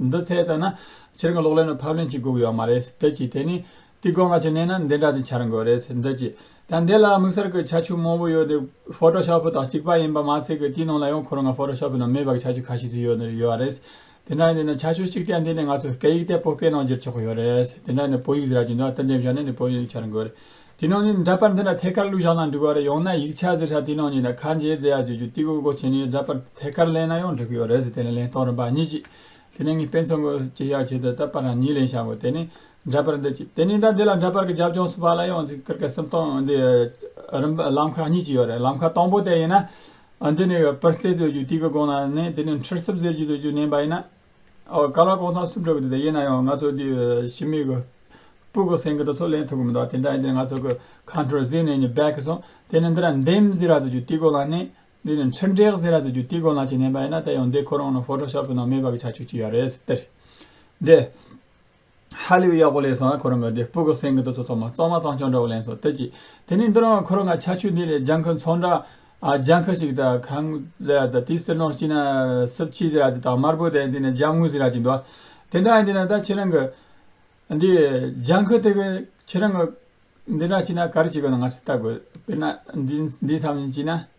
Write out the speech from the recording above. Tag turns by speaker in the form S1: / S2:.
S1: འདི་ཚད་ལྟར་ན། ཁྱེད་རང་གི་གློག་ཀླད་ནང་ཕབ་ལེན་བྱེད་དགོས་ཀྱི་ཡོད་མ་རེད། འདི་གཅིག་དེ་ནི། ཏིག་ཀོ་ལྔ་ཅིག་བསྣན་ན་འདི་འདྲ་ཙམ་འཆར་འགོད་རེད། འདི་གཅིག། ད་འདི་ལ་དམིགས་བསལ་གྱི་ཁྱད་ཆོས་མང་བོ་ཡོད་དེ། ཕོཏོ་ཤོ་ཕི་དང་གཅིག་པ་ཡིན་པ་མ་ཚད་ཀྱི་དེའི་ནང་ལ་ཡང་ཁོ་རང་ང་ཕོཏོ་ཤོ་ཕི་ནང་མེད་པ་གྱི་ཁྱད་ཆོས་ཁ་ཤས་དེ་ཡོད་ནི་ཡོད་རེད། དེ་འདྲ་ཡིན་དེ་ན་ཁྱད་ཆོས་གཅིག་དེ་འདི་ནི་ང་ཚོས་སྐད་ཡིག་དེ་བོད་སྐད་ནང་བསྒྱུར་ཆོག་གི་ཡོད་རེད། དེ་འདྲ་ནི་བོད་ཡིག་ཟེར་ར་ཅིག་འདུག་ད་འདི་འབྱོར་ན་ནི་བོད་ཡིག་འཆར་འགོད་རེད། དེ་ནང་ནས་འདྲ་པར་འདི་འདྲ་ཐད་ཀར་བླུགས་བཞག་ན་འགྲིག་པ་རེད་ཡང་ན་ཡིག་ཆ་བཟི་ཧྲ་དེ་ནང་ཉིད་ད་ཁ་འབྱེད་རྫས་ཡག་བྱེད་རྒྱུ་དེ་གོ་གོ་བྱེད་ནས་འདྲ་པར་ཐད་ཀར་གླེང་ན་ཡང་འགྲིག་གི་ཡོད་རེད་ཟེར་དེ་ནས་གླེང་སྟངས་རིམ་པ་གཉིས་གཅིག་དེ་ནས་ངས་དཔེ་མཚོན་དགོས་གཅིག་ཡག་བྱེད་དེ་ད་པར་རང་ཉིད་གླེང་བྱ་དགོས་དེ་ནས་འདྲ་པར་འདི་གཅིག་དེ་ནས་ད་འདི་ལ་འདྲ་པར་གྱི་རྒྱབ་ལྗོངས་སུ་བ་ལ་ཡང་འདི་ཀར་ཀ་སིམ་སྟངས་འདི་རིམ་པ་ལམ་ཁ་གཉིས་གཅིག་ཡོད་རེད་ལམ་ཁ་དང་པོ་དེ་ཡིན་ན་འདི་ནས་པར་རྩེ་བཟོ་རྒྱུ་དེ་གི་སྒོ་ནས་ནས་དེ་ནས་འཁྲིར་སིབ་བཟོ་རྒྱུ་བཟོ་རྒྱུ་བསྣན་པ་ཡིན་ན་ག་ལ་ལྐོག་ཚང་སུ་འགྲོ་གི་འདུག་དེ་ཡིན་ན་ཡང་ང་ཚོ་དེ་ཞི་མི་གི་སྤུ་གི་སེང་གེ་དེ་ཚོ་ལེན་ཐུབ་གི་མི་འདུག་དེ་འདྲ་ཡིན་དུས་ང་ཚོ་གི་ཁ་འཁྲུར་ཟིག་ནས་ནི་བད་གི་སོང་དེ་ནི་འདི་ར་འདེམས་ཟེར་ར་ཟུ་རྒྱུ་དེ་གོ་ལ་ནི་འདི་ནི་འཕྲིན་སྒྲེག་ཟེར་ར་ཟུ་རྒྱུ་དེ་གོ་ལ་ཅིག་ནན་པ་ཡིན་ན་དེ་ཡང་འདི་ཁོ་རང་ནི་ཕོ་ཏོ་ཤོ་པི་ནང་མེད་པ་གི་ཆ་ཆུག་ཅིག་ཡ་རེད་ཟེར་དེ་རེད། ཧ་ལས་པའི་གཡོག་པོ་ལས་སོང་བས་ཁོ་རང་གི་སྡེ་སྤུ་ག་སེང་གེ་དུ་ཚོ་ཚང་མ་གཙང་མ་གཙང་སྐྱོང་འདྲ་བོ་ལེན་སོང་དེ་གཅིག་དེ་ནས་འདི་རང་ཁོ་རང་གི་ཆ་ཆུ་འདི་ལས་ལྗང་ཁུ་མཚོ་འདྲ་ལྗང་ཁུ་ཞིག་དང་གངས་ཟེ་ར་དང་དེའི་གསེར་ནོག་ཅིག་ན་སྲིབ་ཕྱི་ཟེ་ར་ཅིག་དང་དམར་པོ་དེ་འདི་ནས་ལྗང་དངུལ་ཟེ་ར་ཅིག་འདུག་དེ་འདྲ་ཡིན་དེ་ན་ད་ཁྱེད་རང་གི་འདི་ལྗང་ཁུ་དེ་གི་ཁྱེད་རང་གི་འདི་འདྲ་ཅིག་ན་ག་རེ་བྱེད་དགོས་ན་ང་ཚོས་བལྟ་དགོས་དཔེར་ན་འདི་འདི་ཚང་མ་ཅིག་ན།